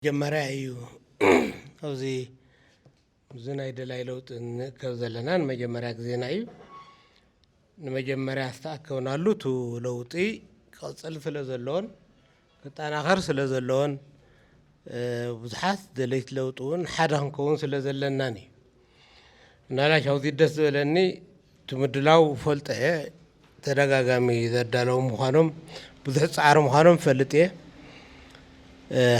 መጀመርያ እዩ ኣብዚ እዚ ናይ ደላይ ለውጢ ንእከብ ዘለና ንመጀመርያ ግዜና እዩ ንመጀመርያ ዝተኣከብናሉ እቲ ለውጢ ክቕፅል ስለ ዘለዎን ክጠናኸር ስለ ዘለዎን ብዙሓት ደለይቲ ለውጢ እውን ሓደ ክንከውን ስለ ዘለናን እዩ ናላሽ ኣዚ ደስ ዝበለኒ እቲ ምድላው ፈልጦ እየ ተደጋጋሚ ዘዳለዉ ምዃኖም ብዙሕ ፃዕሪ ምዃኖም ፈልጥ እየ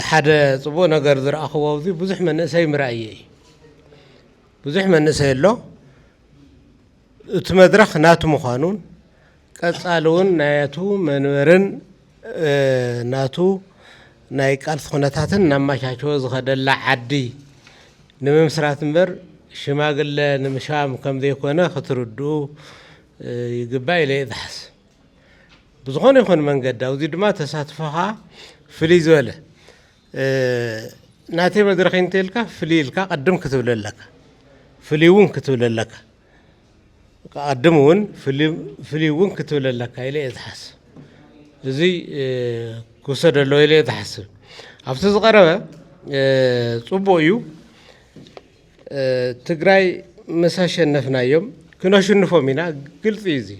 ሓደ ፅቡቅ ነገር ዝረኣኽዎ ኣብዚ ብዙሕ መንእሰይ ምርኣየ እዩ ብዙሕ መንእሰይ ኣሎ እቲ መድረኽ ናቱ ምዃኑን ቀፃሊ እውን ናቱ መንበርን ናቱ ናይ ቃልሲ ኩነታትን እናመቻቸወ ዝኸደላ ዓዲ ንምምስራት እምበር ሽማግለ ንምሻም ከምዘይኮነ ክትርድኡ ይግባእ ኢለ እየ ዝሓስብ። ብዝኾነ ይኹን መንገዲ ኣብዚ ድማ ተሳትፎኻ ፍልይ ዝበለ ናተይ መድረኽ ኢንተልካ ፍልይ ኢልካ ቅድም ክትብል ኣለካ ፍልይ እውን ክትብል ኣለካ ቅድም እውን ፍልይ እውን ክትብል ኣለካ ኢለ እየ ዝሓስብ እዚ ክውሰድ ኣለዎ ኢለ እየ ዝሓስብ ኣብቲ ዝቐረበ ፅቡቕ እዩ ትግራይ ምስ ኣሸነፍናዮም ክነሽንፎም ኢና ግልፂ እዩ እዚ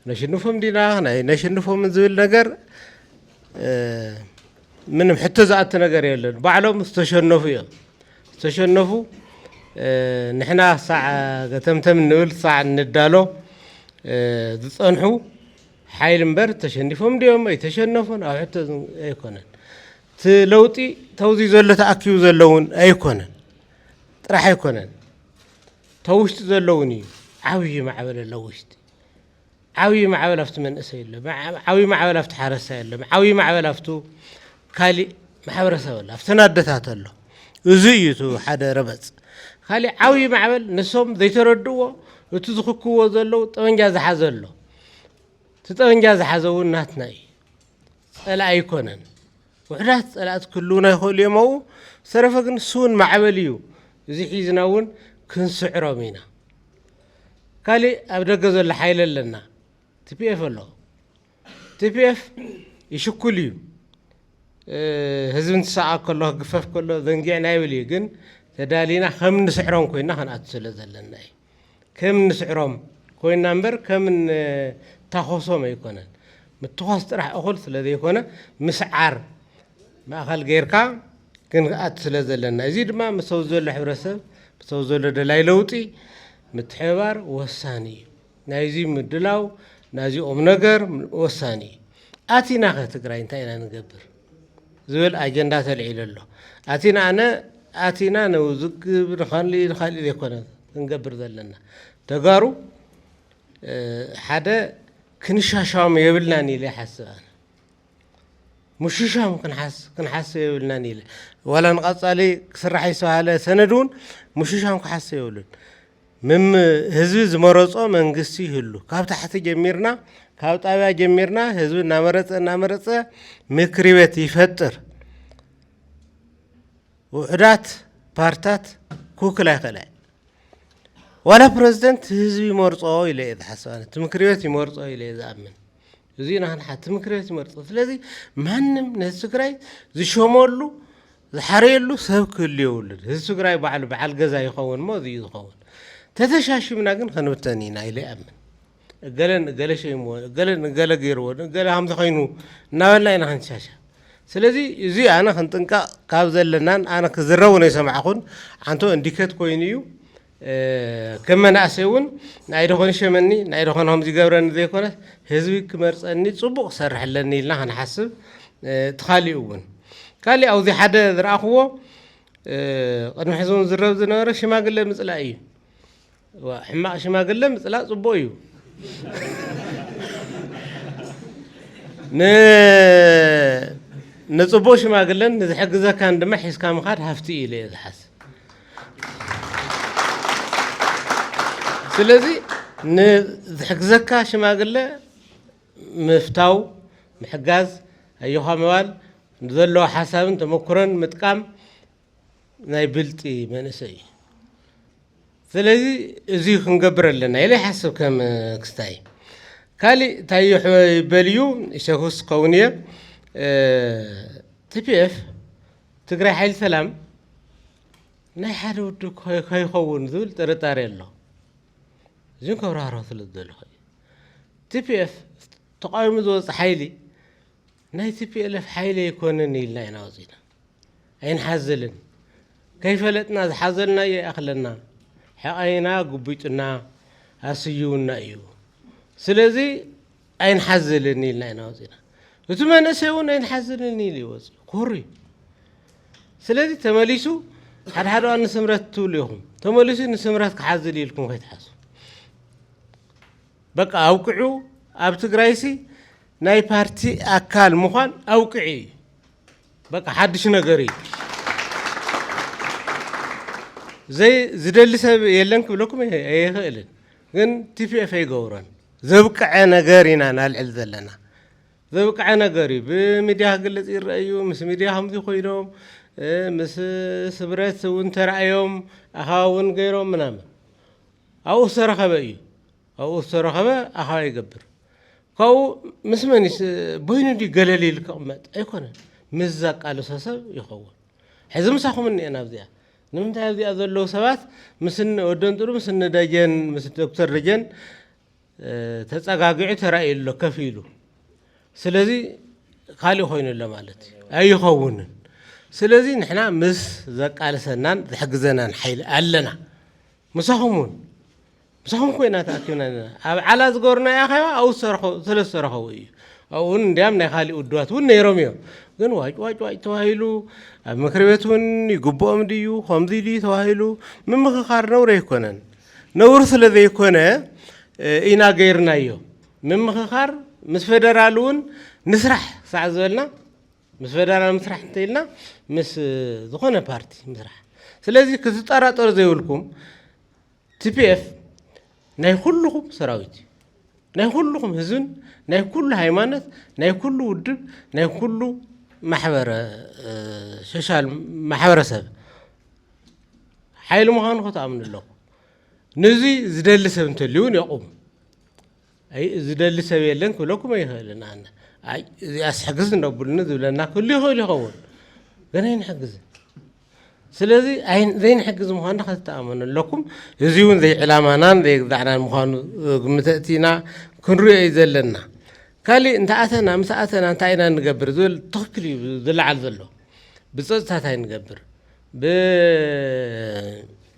ነሽንፎም ዲና ናይ ነሽንፎም ዝብል ነገር ምንም ሕቶ ዝኣቲ ነገር የለን ባዕሎም ዝተሸነፉ እዮም ዝተሸነፉ ንሕና ሳዕ ገተምተም ንብል ሳዕ ንዳሎ ዝፀንሑ ሓይል እምበር ተሸኒፎም ድዮም ኣይተሸነፉን ኣብ ሕቶ ኣይኮነን እቲ ለውጢ ተውዚ ዘሎ ተኣኪቡ ዘለውን ኣይኮነን ጥራሕ ኣይኮነን ተውሽጢ ዘለውን እዩ ዓብዪ ማዕበል ኣለውሽጢ ዓብዪ ማዕበል ኣብቲ መንእሰይ ኣሎ፣ ዓብዪ ማዕበል ኣብቲ ሓረስታይ ኣሎ፣ ዓብዪ ማዕበል ኣብቱ ካሊእ ማሕበረሰብ ኣሎ፣ ኣብተን ኣደታት ኣሎ። እዙይ እዩ እቲ ሓደ ረበፅ። ካሊእ ዓብዪ ማዕበል ንሶም ዘይተረድእዎ እቲ ዝኽክዎ ዘለዉ ጠበንጃ ዝሓዘ ኣሎ። እቲ ጠበንጃ ዝሓዘ እውን ናትና እዩ። ጸላኢ ኣይኮነን ውሕዳት ጸላእት ክህልውና ይኸእሉ እዮም ኣኡ ዝተረፈ ግን ስውን ማዕበል እዩ እዚ ሒዝና እውን ክንስዕሮም ኢና ካልእ ኣብ ደገ ዘሎ ሓይለ ኣለና ቲፒኤፍ ኣሎ ቲፒኤፍ ይሽኩል እዩ ህዝቢ እንትሰኣ ከሎ ክግፈፍ ከሎ ዘንጊዕና ይብል እዩ ግን ተዳሊና ከም ንስዕሮም ኮይና ክንኣት ስለ ዘለና እዩ ከም እንስዕሮም ኮይና እምበር ከም እንታኾሶም ኣይኮነን። ምትኳስ ጥራሕ እኹል ስለ ዘይኮነ ምስዓር ማእኸል ገይርካ ክንኣቱ ስለ ዘለና። እዚ ድማ ምስ ኣብዚ ዘሎ ሕብረተሰብ ምስ ኣብዚ ዘሎ ደላይ ለውጢ ምትሕብባር ወሳኒ እዩ። ናይዚ ምድላው ናዚ ቁምነገር ወሳኒ እዩ። ኣቲናኸ ትግራይ እንታይ ኢና ንገብር? ዝብል ኣጀንዳ ተልዒሉ ኣሎ። ኣቲና ኣነ ኣቲና ንውዝግብ ንካሊእ ንካሊእ ዘይኮነ ክንገብር ዘለና ተጋሩ ሓደ ክንሻሻም የብልናን ኢለ ይሓስብ ኣነ ምሽሻም ክንሓስብ የብልናን ኢለ ዋላ ንቐፃሊ ክስራሕ ዝተባሃለ ሰነድ እውን ምሽሻም ክሓስብ የብሉን። ምም ህዝቢ ዝመረጾ መንግስቲ ይህሉ ካብ ታሕቲ ጀሚርና ካብ ጣብያ ጀሚርና ህዝቢ እናመረጸ እናመረጸ ምክሪ ቤት ይፈጥር ውሕዳት ፓርታት ክውክል ኣይክእለ ዋላ ፕረዚደንት ህዝቢ ይመርፆ ኢለ እየ ዝሓስብ ኣነ እቲ ምክሪ ቤት ይመርፆ ኢለ እየ ዝኣምን እዚ ናህንሓ እቲ ምክሪ ቤት ይመርፆ ስለዚ ማንም ነዚ ትግራይ ዝሸመሉ ዝሓረየሉ ሰብ ክህሉ የብሉን ህዝቢ ትግራይ ባዕሉ በዓል ገዛ ይኸውን እሞ እዚዩ ዝኸውን ተተሻሺምና ግን ክንብተን ኢና ኢለ ይኣምን እገለ ንእገለ ሸይምዎ እገለ ንእገለ ገይርዎ ንእገለ ሃምዚ ኮይኑ እናበልና ኢና ክንሻሻ ስለዚ እዚ ኣነ ክንጥንቀቕ ካብ ዘለናን ኣነ ክዝረቡ ነው የሰማዕኹን ዓንቶ እንዲኬት ኮይኑ እዩ ከም መናእሰይ እውን ናይ ዶ ኾን ይሸመኒ፣ ናይ ዶ ኾን ኸምዚ ይገብረኒ ዘይኮነስ ህዝቢ ክመርፀኒ ፅቡቕ ክሰርሕ ኣለኒ ኢልና ክንሓስብ እቲ ካሊኡ እውን ካሊእ ኣብዚ ሓደ ዝረኣኹዎ ቅድሚ ሕዚ እውን ዝረብ ዝነበረ ሽማግለ ምፅላእ እዩ። ሕማቕ ሽማግለ ምፅላእ ፅቡቕ እዩ። ንፅቡቕ ሽማግለን ንዝሕግዘካን ድማ ሒዝካ ምኻድ ሃፍቲ እዩ ኢለ እየ ዝሓስብ። ስለዚ ንዝሕግዘካ ሽማግለ ምፍታው ምሕጋዝ ኣዮኻ ምባል ዘለዎ ሓሳብን ተመክሮን ምጥቃም ናይ ብልጢ መንእሰይ እዩ ስለዚ እዚ ክንገብር ኣለና ኢለ ይሓስብ ከም ክስታይ ካሊእ እንታይ ይበል እዩ ይሸክስ ክኸውን እየ ቲፒኤፍ ትግራይ ሓይሊ ሰላም ናይ ሓደ ውድብ ከይኸውን ዝብል ጥርጣሬ ኣሎ እዚን ከብራህሮ ስለ ዝደለኹ እዩ ቲፒኤፍ ተቃዊሙ ዝወፅ ሓይሊ ናይ ቲፒኤልኤፍ ሓይሊ ኣይኮነን ኢልና ኢና ወፂና ኣይንሓዝልን ከይፈለጥና ዝሓዘልና እየ ይኣኽለና ሕቐይና ጉቢጡና ኣስዩውና እዩ ስለዚ ኣይንሓዝልን ኢልና ኢና ወፂእና። እቲ መንእሰይ እውን ኣይንሓዝልን ኢሉ እዩ ወፂኡ ኩሩ እዩ። ስለዚ ተመሊሱ ሓደ ሓደ እዋን ንስምረት ትብሉ ኢኹም ተመሊሱ ንስምረት ክሓዝል ኢልኩም ከይትሓሱ በቃ ኣውቅዑ ኣብ ትግራይሲ ናይ ፓርቲ ኣካል ምዃን ኣውቅዒ እዩ በቃ ሓድሽ ነገር እዩ ዝደሊ ሰብ የለን ክብለኩም ኣይኽእልን ግን ቲፒኤፍ ኣይገብሮን ዘብቀዐ ነገር ኢና ናልዕል ዘለና ዘብቀዐ ነገር እዩ ብሚድያ ክግልፅ ይረአ እዩ ምስ ሚድያ ከምዚ ኮይኖም ምስ ስብረት እውን ተራእዮም ኣኸባ እውን ገይሮም ምናምን ኣብኡ ዝተረኸበ እዩ ኣብኡ ዝተረኸበ ኣኸባ ይገብር ካብኡ ምስ መን ቦይኑ ድዩ ገለል ኢሉ ክቕመጥ ኣይኮነን ምስ ዘቃልሶ ሰብ ይኸውን ሕዚ ምሳኹም እኒኤና ኣብዚኣ ንምንታይ ኣብዚኣ ዘለዉ ሰባት ምስ እኒ ወደንጥሩ ምስ እኒ ደጀን ምስ ዶክተር ደጀን ተጸጋጊዑ ተራእዩ ኣሎ ከፍ ኢሉ ስለዚ ካልእ ኮይኑ ኣሎ ማለት እዩ ኣይኸውንን ስለዚ ንሕና ምስ ዘቃልሰናን ዝሕግዘናን ሓይሊ ኣለና ምሳኹም እውን ብሰንኩ ኲናት ኣቲና ኣለና። ኣብ ዓላ ዝገበሩና ኣኼባ ኣብኡ ዝተረኸቡ ስለ ዝተረኸቡ እዩ። ኣብኡ እውን እንዲያም ናይ ካሊእ ውድባት እውን ነይሮም እዮም። ግን ዋጭ ዋጭ ዋጭ ተባሂሉ ኣብ ምክር ቤት እውን ይግብኦም ድዩ ከምዚ ድዩ ተባሂሉ ምምኽኻር ነውሪ ኣይኮነን። ነውሪ ስለ ዘይኮነ ኢና ገይርናዮ። ምምኽኻር ምስ ፌደራል እውን ንስራሕ ሳዕ ዝበልና ምስ ፌደራል ምስራሕ እንተኢልና ምስ ዝኾነ ፓርቲ ምስራሕ ስለዚ ክትጠራጠሩ ዘይብልኩም TPF ናይ ኩሉኹም ሰራዊት እዩ ናይ ኩሉኹም ህዝብን ናይ ኩሉ ሃይማኖት ናይ ኩሉ ውድብ ናይ ኩሉ ማሕበረ ሶሻል ማሕበረሰብ ሓይሊ ምዃኑ ክትኣምኑ ኣለኹ ነዙይ ዝደሊ ሰብ እንተልዩ እውን የቑም ኣይ ዝደሊ ሰብ የለን ክብለኩም ኣይኽእልን ኣነ ኣይ እዚኣስ ሕግዝ እነብሉኒ ዝብለና ክህሉ ይኽእል ይኸውን ግን ኣይንሕግዝን ስለዚ ዘይንሕግዝ ምዃኑ ከተተኣመኑ ኣለኩም እዚ እውን ዘይዕላማናን ዘይግዛዕናን ምዃኑ ግምት እቲና ክንሪኦ እዩ ዘለና ካሊእ እንተኣተና ምስ ኣተና እንታይ ኢና ንገብር ዝብል ትኽክል እዩ ዝለዓል ዘሎ ብፀፅታት ኣይንገብር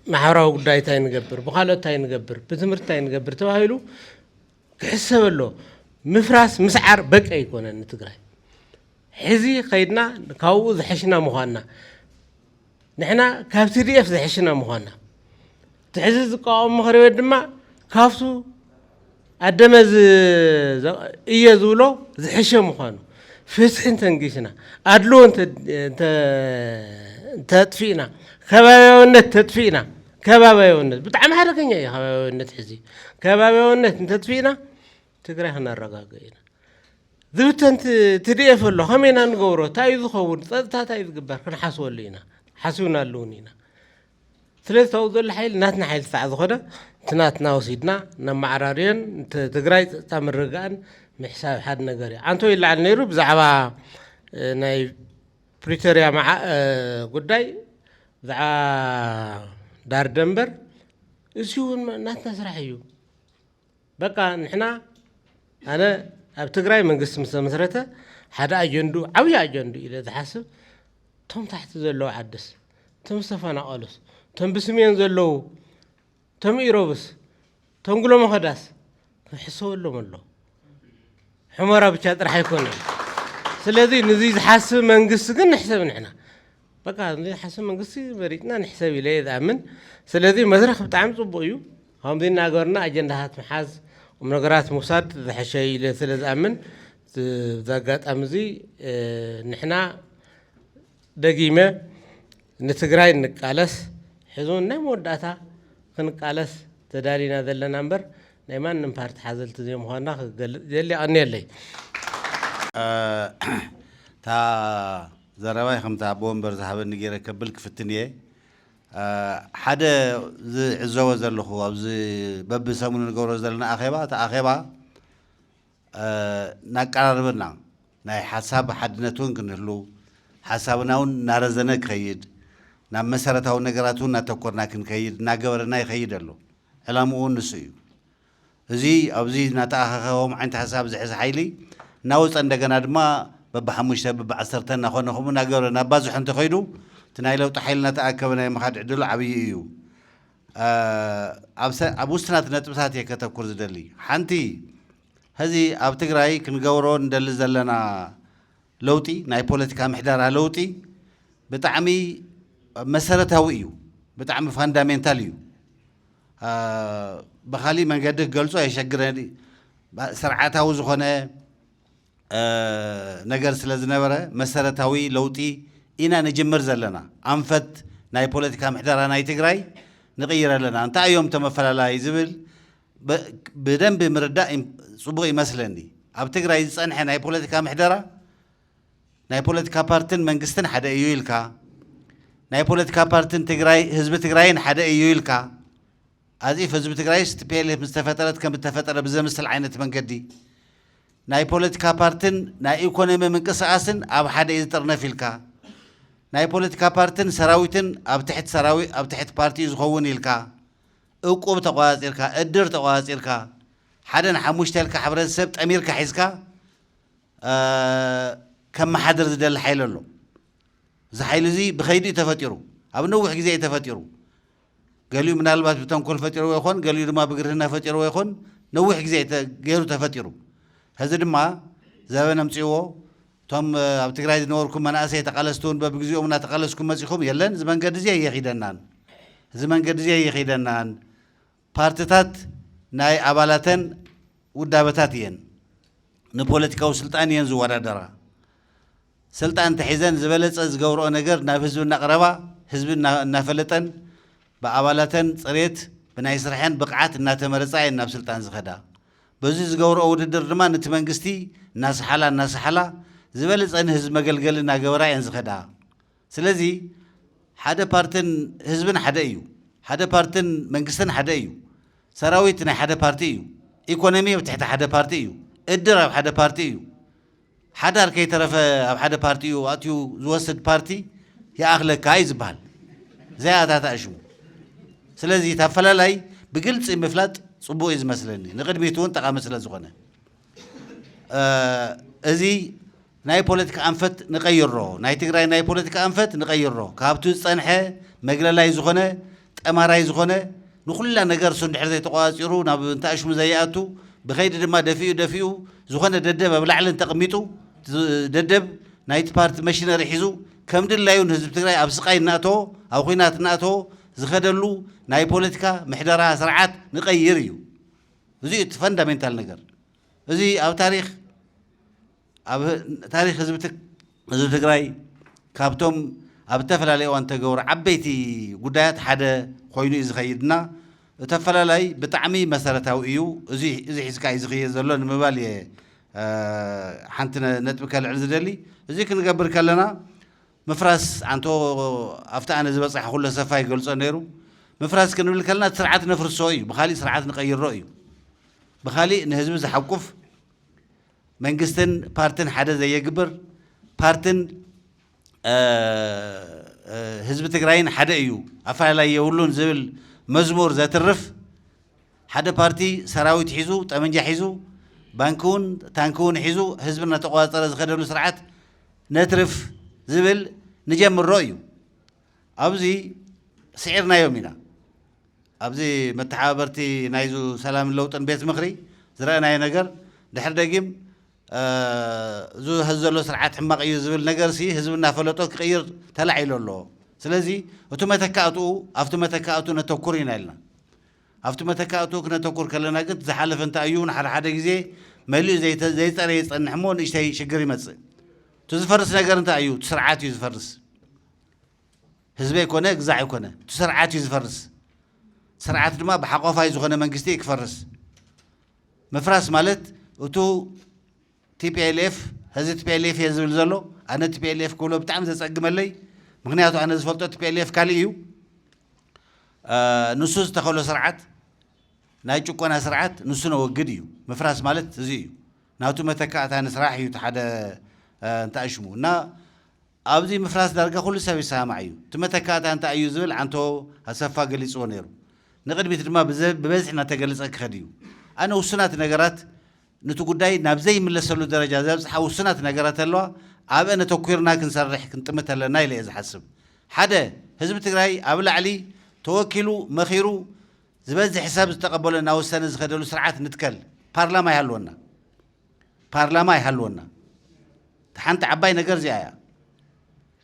ብማሕበራዊ ጉዳይ እንታይ ንገብር፣ ብካልኦት እንታይ ንገብር፣ ብትምህርቲ እንታይ ንገብር ተባሂሉ ክሕሰብ ኣሎ። ምፍራስ ምስዓር በቂ ኣይኮነን ንትግራይ። ሕዚ ከይድና ካብኡ ዝሐሽና ምዃንና ንሕና ካብ ቲዲኤፍ ዝሐሽና ምዃንና እቲ ሕዚ ዝቋቋም ምኽሪ ቤት ድማ ካብቱ ኣደመ እየ ዝብሎ ዝሕሸ ምዃኑ ፍትሒ እንተንጊስና፣ ኣድልዎ እንተጥፊእና፣ ከባብያውነት እንተጥፊእና ከባብያውነት ብጣዕሚ ሓደገኛ እዩ። ከባብያውነት ሕዚ ከባብያውነት እንተጥፊእና ትግራይ ክነረጋግእ ኢና። ዝብተን ትድኤፍ ኣሎ ከመይ ኢና ንገብሮ? እንታይ እዩ ዝኸውን? ፀጥታ እንታይ እዩ ዝግበር? ክንሓስበሉ ኢና ሓሲብናሉ እውን ኢና። ስለዚ እቲ ኣብኡ ዘሎ ሓይሊ ናትና ሓይሊ ክሳዕ ዝኾነ እቲ ናትና ወሲድና ነመዓራርዮን ትግራይ ፀጥታ ምርግጋእን ምሕሳብ ሓደ ነገር እዩ ዓንቶ ይለዓል ነይሩ ብዛዕባ ናይ ፕሪቶሪያ ጉዳይ ብዛዕባ ዳር ደንበር እዚ እውን ናትና ስራሕ እዩ በቃ ንሕና ኣነ ኣብ ትግራይ መንግስቲ ምስ ተመስረተ ሓደ ኣጀንዱ ዓብዪ ኣጀንዱ ኢለ ዝሓስብ እቶም ታሕቲ ዘለዉ ዓድስ እቶም ዝተፈናቐሉስ እቶም ብስሜን ዘለዉ እቶም ኢሮብስ እቶም ጉሎ መኸዳስ ክሕሰበሎም ኣሎ ሕመራ ብቻ ጥራሕ ኣይኮነን ስለዚ ንዙ ዝሓስብ መንግስቲ ግን ንሕሰብ ንሕና በቃ ንሓስብ መንግስቲ መሪፅና ንሕሰብ ኢለ እየ ዝኣምን ስለዚ መድረኽ ብጣዕሚ ፅቡቅ እዩ ከምዚ እናገርና ኣጀንዳታት ምሓዝ ቁም ነገራት ምውሳድ ዝሐሸ እዩ ኢለ ስለ ዝኣምን እዚ ኣጋጣሚ እዚ ንሕና ደጊመ ንትግራይ ንቃለስ ሕዚ እውን ናይ መወዳእታ ክንቃለስ ተዳሊና ዘለና እምበር ናይ ማንም ፓርቲ ሓዘልቲ ዘይምዃንና ክገልፅ ይደሊ ኣቀንየለይ እታ ዘረባይ ከምቲ ኣቦ ወንበር ዝሃበኒ ጌረ ከብል ክፍትን እየ። ሓደ ዝዕዘቦ ዘለኹ ኣብዚ በብሰሙኑ ንገብሮ ዘለና ኣኼባ እቲ ኣኼባ ናቀራርበና ናይ ሓሳብ ሓድነት እውን ክንህሉ ሓሳብና እውን እናረዘነ ክኸይድ ናብ መሰረታዊ ነገራት እውን እናተኮርና ክንከይድ እናገበረና ይኸይድ ኣሎ። ዕላምኡ እውን ንሱ እዩ። እዚ ኣብዚ እናተኣኻኸቦም ዓይነት ሓሳብ ዝሕዝ ሓይሊ እናወፀ እንደገና ድማ በብሓሙሽተ በብዓሰርተ እናኾነ ከምኡ እናገበረ እናባዝሖ እንተኸይዱ እቲ ናይ ለውጢ ሓይሊ እናተኣከበ ናይ ምኻድ ዕድሉ ዓብዪ እዩ። ኣብ ውስናት ነጥብታት እየ ከተኩር ዝደሊ። ሓንቲ ሀዚ ኣብ ትግራይ ክንገብሮ እንደሊ ዘለና ለውጢ ናይ ፖለቲካ ምሕደራ ለውጢ ብጣዕሚ መሰረታዊ እዩ፣ ብጣዕሚ ፋንዳሜንታል እዩ። ብኻሊእ መንገዲ ክገልጾ የሸግረኒ ስርዓታዊ ዝኾነ ነገር ስለ ዝነበረ መሰረታዊ ለውጢ ኢና ንጅምር ዘለና ኣንፈት ናይ ፖለቲካ ምሕደራ ናይ ትግራይ ንቕይር ኣለና እንታይ እዮም እቶም ኣፈላላይ ዝብል ብደንቢ ምርዳእ ፅቡቕ ይመስለኒ ኣብ ትግራይ ዝፀንሐ ናይ ፖለቲካ ምሕደራ ናይ ፖለቲካ ፓርትን መንግስትን ሓደ እዩ ኢልካ፣ ናይ ፖለቲካ ፓርትን ትግራይ ህዝቢ ትግራይን ሓደ እዩ ኢልካ፣ as if ህዝቢ ትግራይስ tplf ምስ ተፈጠረት ከም እተፈጠረ ብዘምስል ዓይነት መንገዲ፣ ናይ ፖለቲካ ፓርትን ናይ ኢኮኖሚ ምንቅስቃስን ኣብ ሓደ እዩ ዝጥርነፍ ኢልካ፣ ናይ ፖለቲካ ፓርትን ሰራዊትን ኣብ ትሕት ሰራዊ ኣብ ትሕት ፓርቲ እዩ ዝኸውን ኢልካ፣ እቁብ ተቆፃፂርካ፣ እድር ተቆፃፂርካ፣ ሓደ ንሓሙሽተ ኢልካ ሕብረተሰብ ጠሚርካ ሒዝካ ከመሓድር ዝደሊ ሓይሊ ኣሎ። እዚ ሓይሊ እዚ ብኸይዲ እዩ ተፈጢሩ፣ ኣብ ነዊሕ ግዜ እዩ ተፈጢሩ። ገሊኡ ምናልባት ብተንኮል ፈጢርዎ ይኾን፣ ገሊኡ ድማ ብግርህና ፈጢርዎ ይኾን፣ ነዊሕ ግዜ እዩ ገይሩ ተፈጢሩ። ሕዚ ድማ ዘበን ኣምፅእዎ እቶም ኣብ ትግራይ ዝነበርኩም መናእሰይ ተቓለስቲ እውን በብግዜኦም እናተቓለስኩም መፂኹም የለን እዚ መንገዲ እዚ ኣየኺደናን እዚ መንገዲ እዚ ኣይኺደናን ፓርትታት ናይ ኣባላተን ውዳበታት እየን ንፖለቲካዊ ስልጣን እየን ዝወዳደራ። ሰልጣን እንተሒዘን ዝበለፀ ዝገብረኦ ነገር ናብ ህዝቢ እናቕረባ ህዝቢ እናፈለጠን ብኣባላተን ፅሬት ብናይ ስርሐን ብቕዓት እናተመረፃ እየን ናብ ስልጣን ዝኸዳ። በዙይ ዝገብረኦ ውድድር ድማ ንቲ መንግስቲ እናሰሓላ እናሰሓላ ዝበለፀ ንህዝቢ መገልገሊ እናገበራ እየን ዝኸዳ። ስለዚ ሓደ ፓርትን ህዝብን ሓደ እዩ። ሓደ ፓርትን መንግስትን ሓደ እዩ። ሰራዊት ናይ ሓደ ፓርቲ እዩ። ኢኮኖሚ ኣብ ትሕቲ ሓደ ፓርቲ እዩ። እድር ኣብ ሓደ ፓርቲ እዩ። ሓዳር ከይተረፈ ኣብ ሓደ ፓርቲ እዩ ኣእትዩ ዝወስድ ፓርቲ ይኣኽለካ እዩ ዝበሃል ዘይኣታታእሽሙ። ስለዚ እቲ ኣፈላላይ ብግልፂ ምፍላጥ ፅቡቅ እዩ ዝመስለኒ ንቅድሚት እውን ጠቃሚ ስለ ዝኾነ እዚ ናይ ፖለቲካ ኣንፈት ንቀይሮ ናይ ትግራይ ናይ ፖለቲካ ኣንፈት ንቀይሮ ካብቱ ዝፀንሐ መግለላይ ዝኾነ ጠማራይ ዝኾነ ንኹላ ነገር እሱ እንድሕር ዘይተቋፃፂሩ ናብ እንተኣሽሙ ዘይኣቱ ብኸይዲ ድማ ደፊኡ ደፊኡ ዝኾነ ደደብ ኣብ ላዕሊ እንተቅሚጡ እቲ ደደብ ናይቲ ፓርቲ መሽነሪ ሒዙ ከም ድላዩ ንህዝቢ ትግራይ ኣብ ስቃይ እናእተዎ ኣብ ኹናት እናእተዎ ዝኸደሉ ናይ ፖለቲካ ምሕደራ ስርዓት ንቀይር እዩ እዙይ እቲ ፈንዳሜንታል ነገር እዙይ ኣብ ታሪኽ ኣብ ታሪክ ህዝቢ ትግራይ ካብቶም ኣብ እተፈላለየ እዋን ተገብሩ ዓበይቲ ጉዳያት ሓደ ኮይኑ እዩ ዝኸይድ እና እቲ ኣፈላላይ ብጣዕሚ መሰረታዊ እዩ እዚ ሒዝካ እዩ ዝኽየድ ዘሎ ንምባል እየ ሓንቲ ነጥቢ ከልዕል ዝደሊ እዚ ክንገብር ከለና ምፍራስ ኣንቶ ኣብቲ ኣነ ዝበፃሕኩሎ ሰፋ ይገልፆ ነይሩ ምፍራስ ክንብል ከለና እቲ ስርዓት ነፍርሶ እዩ ብካሊእ ስርዓት ንቀይሮ እዩ ብካሊእ ንህዝቢ ዝሓቁፍ መንግስትን ፓርትን ሓደ ዘየግብር፣ ፓርትን ህዝቢ ትግራይን ሓደ እዩ ኣፈላላይ የብሉን ዝብል መዝሙር ዘትርፍ ሓደ ፓርቲ ሰራዊት ሒዙ ጠመንጃ ሒዙ ባንኪ እውን ታንኪ እውን ሒዙ ህዝቢ እናተቆፃፀረ ዝኸደሉ ስርዓት ነትርፍ ዝብል ንጀምሮ እዩ። ኣብዚ ስዒርናዮም ኢና። ኣብዚ መተሓባበርቲ ናይዙ ሰላምን ለውጥን ቤት ምኽሪ ዝረእናዮ ነገር ድሕሪ ደጊም እዙ ሀዚ ዘሎ ስርዓት ሕማቕ እዩ ዝብል ነገር ሲ ህዝቢ እናፈለጦ ክቕይር ተላዒሎ ኣሎ ስለዚ እቱ መተካእትኡ ኣብቲ መተካእቱ ነተኩር ኢና ኢልና ኣብቲ መተካእቱ ክነተኩር ከለና ግት ዝሓለፈ እንተ እዩ እውን ሓደ ሓደ ግዜ መሊኡ ዘይፀረ ይፀንሕ እሞ ንእሽተይ ሽግር ይመፅእ እቲ ዝፈርስ ነገር እንታይ እዩ ስርዓት እዩ ዝፈርስ ህዝቢ ኣይኮነ ግዛዕ ኣይኮነ እቲ ስርዓት እዩ ዝፈርስ ስርዓት ድማ ብሓቆፋይ ዝኾነ መንግስቲ እዩ ክፈርስ ምፍራስ ማለት እቱ ቲፒኤልኤፍ ህዚ ቲፒኤልኤፍ እየ ዝብል ዘሎ ኣነ ቲፒኤልኤፍ ክብሎ ብጣዕሚ ዘፀግመለይ ምክንያቱ ኣነ ዝፈልጦ ቲፒኤልኤፍ ካልእ እዩ ንሱ ዝተኸሎ ስርዓት ናይ ጭቆና ስርዓት ንሱ ነወግድ እዩ ምፍራስ ማለት እዚ እዩ ናቱ መተካእታ ንስራሕ እዩ ሓደ እንታይ ሽሙ እና ኣብዚ ምፍራስ ዳርጋ ኩሉ ሰብ ይሰማማዕ እዩ። እቲ መተካእታ እንታይ እዩ ዝብል ዓንቶ ኣሰፋ ገሊጽዎ ነይሩ። ንቕድሚት ድማ ብበዝሒ እናተገለጸ ክኸድ እዩ። ኣነ ውሱናት ነገራት ኑቲ ጉዳይ ናብ ዘይምለሰሉ ደረጃ ዘብጽሓ ውሱናት ነገራት ኣለዋ፣ ኣብአን ኣተኲርና ክንሰርሕ ክንጥምት ኣለና ኢለ እየ ዝሓስብ። ሓደ፣ ህዝቢ ትግራይ ኣብ ላዕሊ ተወኪሉ መኺሩ ዝበዝሕ ሰብ ዝተቐበሎ እናወሰነ ዝኸደሉ ስርዓት ንትከል፣ ፓርላማ ይሃልወና። ፓርላማ ይሃልወና እታ ሓንቲ ዓባይ ነገር እዚኣ እያ።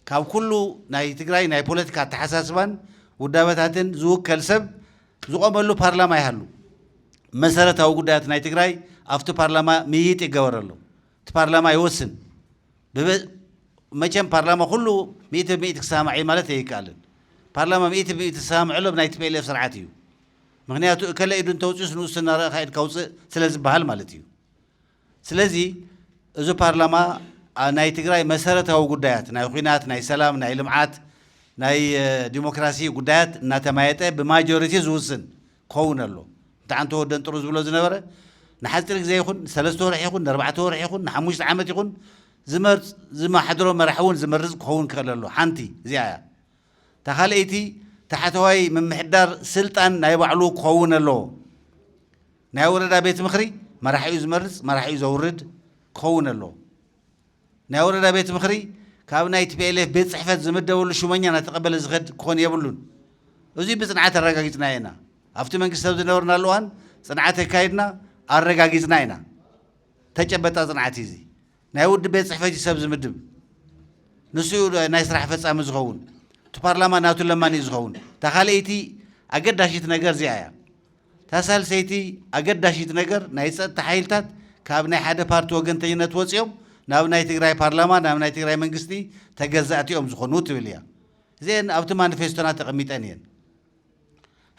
ካብ ኩሉ ናይ ትግራይ ናይ ፖለቲካ ኣተሓሳስባን ውዳበታትን ዝውከል ሰብ ዝቆመሉ ፓርላማ ይሃሉ። መሰረታዊ ጉዳያት ናይ ትግራይ ኣብቲ ፓርላማ ምይይጥ ይገበረሎም። እቲ ፓርላማ ይወስን። መቸም ፓርላማ ኩሉ ሚእቲ ብሚእቲ ክሰማማዕ እዩ ማለት ኣይከኣልን። ፓርላማ ሚእቲ ብሚእቲ ዝሰማምዐሎም ናይ ቲፒኤልኤፍ ስርዓት እዩ። ምኽንያቱ እከለ ኢዱ እንተውፂኡስ ንኡስ እናረኣኻ ኢድካ ውፅእ ስለዝበሃል ማለት እዩ። ስለዚ እዚ ፓርላማ ናይ ትግራይ መሰረታዊ ጉዳያት ናይ ኹናት፣ ናይ ሰላም፣ ናይ ልምዓት፣ ናይ ዲሞክራሲ ጉዳያት እናተማየጠ ብማጆሪቲ ዝውስን ክኸውን ኣለዎ። እንተ ኣንተ ወደን ጥሩ ዝብሎ ዝነበረ ንሓፂር ግዜ ይኹን ንሰለስተ ወርሒ ይኹን ንኣርባዕተ ወርሒ ይኹን ንሓሙሽተ ዓመት ይኹን ዝመርፅ ዝመሓድሮ መራሒ እውን ዝመርፅ ክኸውን ክኽእል ኣለዎ። ሓንቲ እዚኣ እያ። እታ ካልኣይቲ ታሕተዋይ ምምሕዳር ስልጣን ናይ ባዕሉ ክኸውን ኣለዎ። ናይ ወረዳ ቤት ምኽሪ መራሒኡ ዝመርፅ መራሒኡ ዘውርድ ክኸውን ኣለዎ። ናይ ወረዳ ቤት ምኽሪ ካብ ናይ tplf ቤት ፅሕፈት ዝምደበሉ ሹመኛ እናተቐበለ ዝኸድ ክኾን የብሉን። እዙይ ብፅንዓት ኣረጋጊፅናዮ ኢና። ኣብቲ መንግስቲ ኣብ ዝነበርናሉ እዋን ፅንዓት ኣካይድና ኣረጋጊፅና ኢና። ተጨበጣ ፅንዓት እዩ እዙይ። ናይ ውድብ ቤት ጽሕፈት እዩ ሰብ ዝምድብ ንሱ እዩ ናይ ስራሕ ፈጻሚ ዝኸውን እቲ ፓርላማ ናቱ ለማኒ እዩ ዝኸውን እታ ካልኣይቲ ኣገዳሲት ነገር እዚኣ እያ እታ ሳልሰይቲ ኣገዳሲት ነገር ናይ ጸጥታ ሓይልታት ካብ ናይ ሓደ ፓርቲ ወገንተኝነት ወፂኦም ናብ ናይ ትግራይ ፓርላማ ናብ ናይ ትግራይ መንግስቲ ተገዛእቲ እዮም ዝኾኑ ትብል እያ እዚአን ኣብቲ ማኒፌስቶና ተቐሚጠን እየን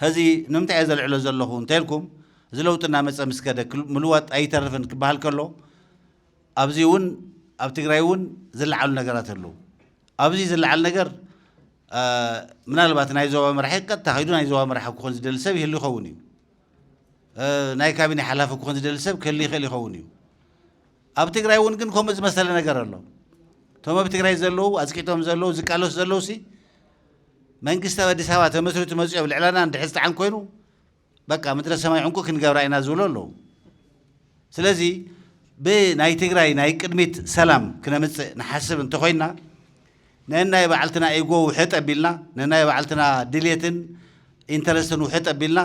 ሀዚ ንምንታይ እየ ዘልዕሎ ዘለኹ እንተልኩም እዚ ለውጢ እናመፀ ምስ ከደ ምልዋጥ ኣይተርፍን ክበሃል ከሎ ኣብዚ እውን ኣብ ትግራይ እውን ዝለዓሉ ነገራት ኣለዉ ኣብዚ ዝለዓል ነገር ምናልባት ናይ ዞባ መራሒ ቀጥታ ከይዱ ናይ ዞባ መራሒ ክኾን ዝደሊ ሰብ ይህሉ ይኸውን እዩ ናይ ካቢኔ ሓላፊ ክኾን ዝደሊ ሰብ ክህሉ ይኽእል ይኸውን እዩ ኣብ ትግራይ እውን ግን ከምኡ ዝመሰለ ነገር ኣሎ። እቶም ኣብ ትግራይ ዘለዉ ኣፅቂጦም ዘለዉ ዝቃለሱ ዘለዉ ሲ መንግስቲ ኣብ ኣዲስ ኣበባ ተመስሪቱ መፂኦም ልዕላና እንድሕር ዝጠዓን ኮይኑ በቃ ምድረ ሰማይ ዕንቁ ክንገብራ ኢና ዝብሉ ኣለዉ። ስለዚ ብናይ ትግራይ ናይ ቅድሚት ሰላም ክነምፅእ ንሓስብ እንተኾይንና ነናይ ባዕልትና ኢጎ ውሕጥ ኣቢልና፣ ነናይ ባዕልትና ድሌትን ኢንተረስትን ውሕጥ ኣቢልና፣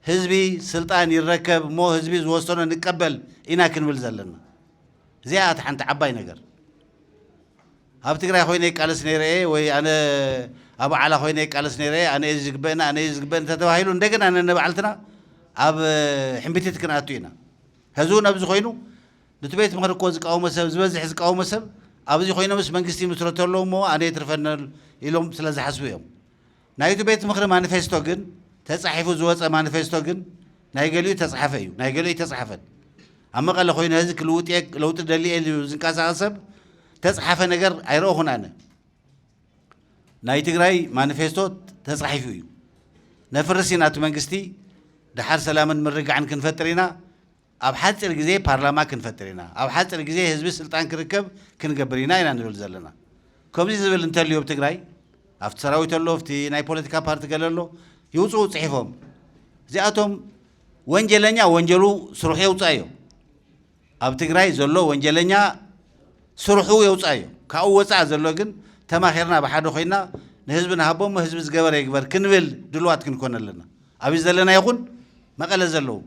ህዝቢ ስልጣን ይረከብ እሞ ህዝቢ ዝወሰኖ ንቀበል ኢና ክንብል ዘለና። እዚኣ እያ ሓንቲ ዓባይ ነገር። ኣብ ትግራይ ኮይነ ይቃለስ ነይረ እየ ወይ ኣነ ኣብ ዓላ ኮይነ ይቃለስ ነይረ እየ ኣነ እየ ዝግበእኒ ኣነ እየ ዝግበእኒ እንተተባሂሉ እንደገና ነንባዕልትና ኣብ ሕምቢቲት ክንኣቱ ኢና። ሕዚ እውን ኣብዚ ኮይኑ ኑቲ ቤት ምኽሪ እኮ ዝቃወሞ ሰብ ዝበዝሕ ዝቃወሞ ሰብ ኣብዚ ኮይኖምስ መንግስቲ ይምስረቱ ኣለው እሞ ኣነ የትርፈኒ ኢሎም ስለ ዝሓስቡ እዮም ናይቱ ቤት ምኽሪ ማኒፌስቶ ግን ተፃሒፉ ዝወፀ ማኒፌስቶ ግን ናይ ገሊኡ ተፅሓፈ እዩ ናይ ገሊኡ ኣይተፅሓፈን ኣብ መቐለ ኮይነ ህዚ ክልውጥ እየ ለውጢ ደሊ እየ ኢሉ ዝንቀሳቐስ ሰብ ተፅሓፈ ነገር ኣይረእኹን ኣነ ናይ ትግራይ ማኒፌስቶ ተፃሒፉ እዩ ነፍርስ ኢና እቲ መንግስቲ ድሓር ሰላምን ምርግጋዕን ክንፈጥር ኢና ኣብ ሓፂር ግዜ ፓርላማ ክንፈጥር ኢና፣ ኣብ ሓፅር ግዜ ህዝቢ ስልጣን ክርከብ ክንገብር ኢና ኢና ንብል ዘለና። ከምዙይ ዝብል እንተልዩ ኣብ ትግራይ ኣብቲ ሰራዊት ኣሎ ኣብቲ ናይ ፖለቲካ ፓርቲ ገለ ኣሎ ይውፅኡ ፅሒፎም እዚኣቶም ወንጀለኛ ወንጀሉ ስርሑ የውፅኣዮ ኣብ ትግራይ ዘሎ ወንጀለኛ ስርሑ የውፅኣዮ ካብኡ ወፃእ ዘሎ ግን ተማኺርና ብሓደ ኮይና ንህዝቢ ንሃቦ እሞ ህዝቢ ዝገበረ ይግበር ክንብል ድልዋት ክንኮን ኣለና ኣብዩ ዘለና ይኹን መቐለ ዘለዉ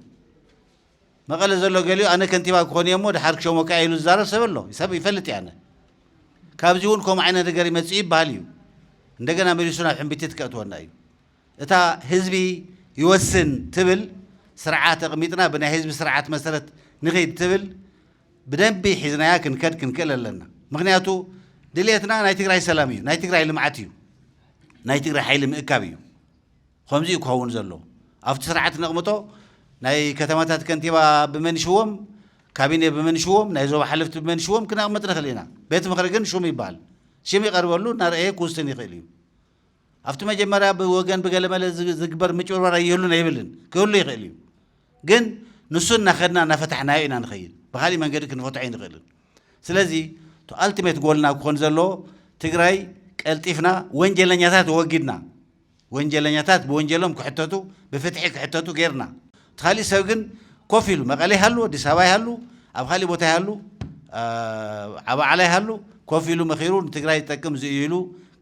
መቐለ ዘሎ ገሊኡ ኣነ ከንቲባ ክኾን እየ'ሞ ደሓር ክሸሞካ እየ ኢሉ ዝዛረብ ሰብ ኣሎ። ሰብ ይፈልጥ እየ ኣነ። ካብዚ እውን ከምኡ ዓይነት ነገር ይመጽእ ይበሃል እዩ። እንደገና መሊሱ ናብ ሕምብቲት ከእትወና እዩ። እታ ህዝቢ ይወስን ትብል ስርዓት ኣቕሚጥና ብናይ ህዝቢ ስርዓት መሰረት ንኺድ ትብል ብደንቢ ሒዝናያ ክንከድ ክንክእል ኣለና። ምክንያቱ ድልየትና ናይ ትግራይ ሰላም እዩ፣ ናይ ትግራይ ልምዓት እዩ፣ ናይ ትግራይ ሓይሊ ምእካብ እዩ። ኸምዚ እዩ ክኸውን ዘሎ ኣብቲ ስርዓት ነቕምጦ ናይ ከተማታት ከንቲባ ብመን ይሽወም ካቢኔ ብመን ይሽወም ናይ ዞባ ሓለፍቲ ብመን ይሽወም ክነቕምጥ ንኽእል ኢና ቤት ምኽሪ ግን ሹም ይበሃል ሽም ይቐርበሉ እናርኣየ ክውስን ይኽእል እዩ ኣብቲ መጀመርያ ብወገን ብገለመለ ዝግበር ምጭብርባር ኣይህሉን ኣይብልን ክህሉ ይኽእል እዩ ግን ንሱ እናኸድና እናፈታሕናዮ ኢና ንኸይድ ብካሊእ መንገዲ ክንፈትሖ ኣይንኽእልን ስለዚ እቲ ኣልቲሜት ጎልና ክኾን ዘለዎ ትግራይ ቀልጢፍና ወንጀለኛታት ወጊድና ወንጀለኛታት ብወንጀሎም ክሕተቱ ብፍትሒ ክሕተቱ ገይርና። እቲ ካሊእ ሰብ ግን ኮፍ ኢሉ መቐለ ይሃሉ ኣዲስ ኣበባ ይሃሉ ኣብ ካሊእ ቦታ ይሃሉ ዓብ ዓላ ይሃሉ ኮፍ ኢሉ መኺሩ ንትግራይ ዝጠቅም እዚ እዩ ኢሉ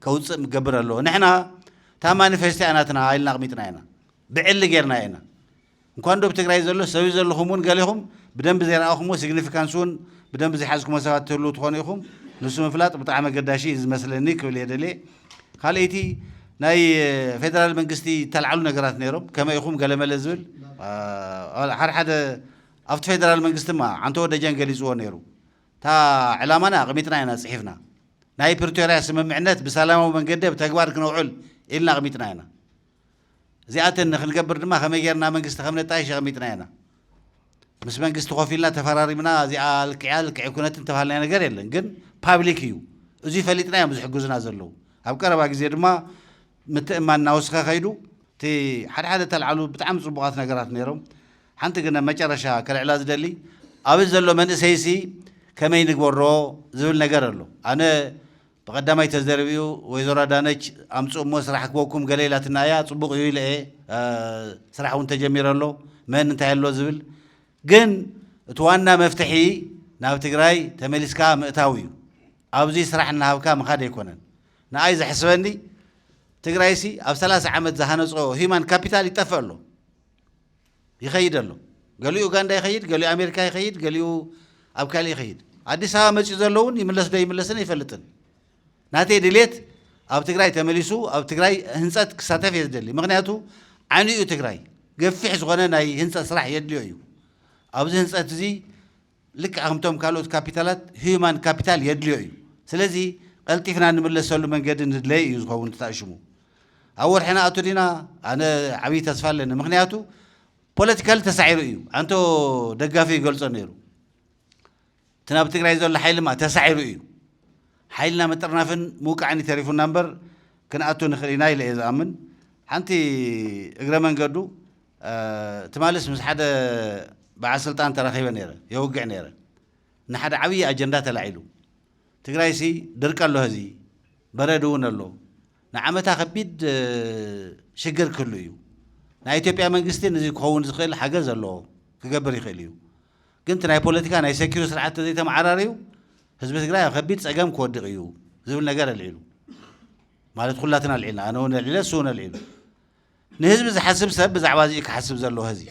ከውፅእ ምገብር ኣለዎ። ንሕና እታ ማኒፌስቶ እያ ናትና ኢልና ኣቕሚጥናያ ኢና። ብዕሊ ገይርናያ ኢና። እንኳን ዶብ ትግራይ ዘሎ ሰብይ ዘለኹም እውን ገሌኹም ብደንቢ ዘይረኣኹምዎ ሲግኒፊካንስ እውን ብደንቢ ዘይሓዝኩሞ ሰባት ትህልው ትኾኑ ኢኹም ንሱ ምፍላጥ ብጣዕሚ ኣገዳሺ እዩ ዝመስለኒ ክብል እየ ደልየ ካልኣይቲ ናይ ፌደራል መንግስቲ ዝተልዓሉ ነገራት ነይሮም ከመይ ኢኹም ገለመለ ዝብል ሓደ ሓደ ኣብቲ ፌደራል መንግስቲ ማ ዓንተወ ደጀን ገሊፅዎ ነይሩ እታ ዕላማና ኣቕሚጥና ኢና ፅሒፍና ናይ ፕሪቶርያ ስምምዕነት ብሰላማዊ መንገዲ ኣብ ተግባር ክነውዕል ኢልና ኣቕሚጥና ኢና እዚኣተን ንክንገብር ድማ ከመይ ጌርና መንግስቲ ከም ነጣይሽ ኣቐሚጥናዮ ኢና። ምስ መንግስቲ ኮፍ ኢልና ተፈራሪምና እዚኣ ልክዕ እያ ልክዕ ኣይኮነትን ዝተባሃልናዮ ነገር የለን። ግን ፓብሊክ እዩ። እዙይ ፈሊጥና እዮም ዝሕግዙና ዘለዉ። ኣብ ቀረባ ግዜ ድማ ምትእምማን እናወስኸ ከይዱ። እቲ ሓደ ሓደ እተልዓሉ ብጣዕሚ ጽቡቓት ነገራት ነይሮም። ሓንቲ ግን ኣብ መጨረሻ ከልዕላ ዝደሊ ኣብዚ ዘሎ መንእሰይሲ ከመይ ንግበሮ ዝብል ነገር ኣሎ። ኣነ ብቀዳማይ ተዘርብዩ ወይዘሮ ኣዳነች ኣምፅኡ እሞ ስራሕ ክበኩም ገለ ኢላትና እያ ፅቡቅ እዩ ኢለ እየ ስራሕ እውን ተጀሚረ ኣሎ መን እንታይ ኣሎ ዝብል ግን እቲ ዋና መፍትሒ ናብ ትግራይ ተመሊስካ ምእታው እዩ ኣብዚ ስራሕ እናሃብካ ምኻድ ኣይኮነን ንኣይ ዘሕስበኒ ትግራይሲ ኣብ ሰላሳ ዓመት ዝሃነፆ ሂማን ካፒታል ይጠፍእ ኣሎ ይኸይድ ኣሎ። ገሊኡ ኡጋንዳ ይኸይድ፣ ገሊኡ ኣሜሪካ ይኸይድ፣ ገሊኡ ኣብ ካሊእ ይኸይድ። ኣዲስ ኣበባ መፂኡ ዘሎ እውን ይምለስ ዶ ኣይምለስን ኣይፈልጥን። ናተይ ድሌት ኣብ ትግራይ ተመሊሱ ኣብ ትግራይ ህንፀት ክሳተፍ እየ ዝደሊ። ምክንያቱ ዓንዩ እዩ ትግራይ ገፊሕ ዝኾነ ናይ ህንፀት ስራሕ የድልዮ እዩ። ኣብዚ ህንፀት እዚ ልክዕ ከምቶም ካልኦት ካፒታላት ህዩማን ካፒታል የድልዮ እዩ። ስለዚ ቀልጢፍና እንምለሰሉ መንገዲ ንድለይ እዩ ዝኸውን እቲ ኣእሽሙ። ኣብ ወርሒ ንኣቱ ዲና? ኣነ ዓብዪ ተስፋ ኣለኒ ምኽንያቱ ፖለቲካሊ ተሳዒሩ እዩ። ኣንቶ ደጋፊ ይገልጾ ነይሩ። እቲ ናብ ትግራይ ዘሎ ሓይሊ ማ ተሳዒሩ እዩ። ሓይልና ምጥርናፍን ምውቃዕን እዩ ተሪፉና እምበር ክንኣቱ ንኽእል ኢና ኢለ እየ ዝኣምን። ሓንቲ እግረ መንገዱ ትማሊስ ምስ ሓደ በዓል ስልጣን ተራኺበ ነይረ፣ የውግዕ ነይረ። ንሓደ ዓብዪ ኣጀንዳ ተላዒሉ። ትግራይሲ ድርቂ ኣሎ ሀዚ፣ በረድ እውን ኣሎ። ንዓመታ ከቢድ ሽግር ክህሉ እዩ። ናይ ኢትዮጵያ መንግስቲ ንዚ ክኸውን ዝኽእል ሓገዝ ኣለዎ፣ ክገብር ይኽእል እዩ። ግን እቲ ናይ ፖለቲካ ናይ ሰኪሩ ስርዓት ተዘይተመዓራርዩ ህዝቢ ትግራይ ኣብ ከቢድ ፀገም ክወድቕ እዩ ዝብል ነገር ኣልዒሉ። ማለት ኩላትና ኣልዒልና፣ ኣነ እውን ኣልዒለ፣ እሱ እውን ኣልዒሉ። ንህዝቢ ዝሓስብ ሰብ ብዛዕባ እዚ እዩ ክሓስብ ዘለዎ ህዚ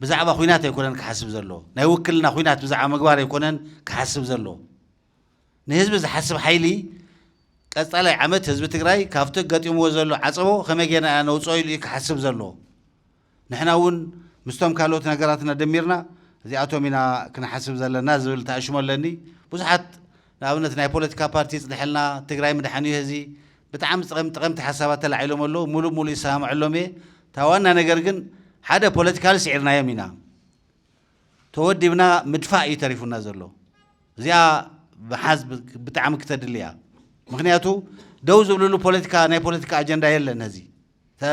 ብዛዕባ ኩናት ኣይኮነን ክሓስብ ዘለዎ ናይ ውክልና ኩናት ብዛዕባ ምግባር ኣይኮነን ክሓስብ ዘለዎ ንህዝቢ ዝሓስብ ሓይሊ ቀፃላይ ዓመት ህዝቢ ትግራይ ካብቲ ገጢምዎ ዘሎ ዓፀቦ ከመይ ጌርና ኢና ነውፅኦ ኢሉ እዩ ክሓስብ ዘለዎ ንሕና እውን ምስቶም ካልኦት ነገራትና ደሚርና እዚኣቶም ኢና ክንሓስብ ዘለና ዝብል ተኣሽሞ ኣለኒ። ብዙሓት ንኣብነት ናይ ፖለቲካ ፓርቲ ይፅድሐልና፣ ትግራይ ምድሓን እዩ ሀዚ ብጣዕሚ ጥቐምቲ ጠቐምቲ ሓሳባት ተላዒሎም ኣለው። ሙሉእ ሙሉእ ይሰማመዐሎም እየ። እታ ዋና ነገር ግን ሓደ ፖለቲካሊ ስዒርናዮም ኢና። ተወዲብና ምድፋእ እዩ ተሪፉና ዘሎ። እዚኣ ምሓዝ ብጣዕሚ ክተድሊ እያ። ምኽንያቱ ደው ዝብልሉ ፖለቲካ ናይ ፖለቲካ ኣጀንዳ የለን ሀዚ። እታ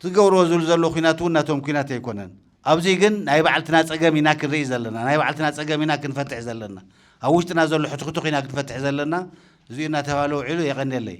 ትገብርዎ ዝብሉ ዘለዉ ኩናት እውን ናቶም ኩናት ኣይኮነን። ኣብዚ ግን ናይ ባዕልትና ጸገም ኢና ክንርኢ ዘለና፣ ናይ ባዕልትና ጸገም ኢና ክንፈትሕ ዘለና፣ ኣብ ውሽጥና ዘሎ ሕትኩቱኽ ኢና ክንፈትሕ ዘለና፣ እዚኡ እናተባህለ ውዒሉ። የቐንየለይ።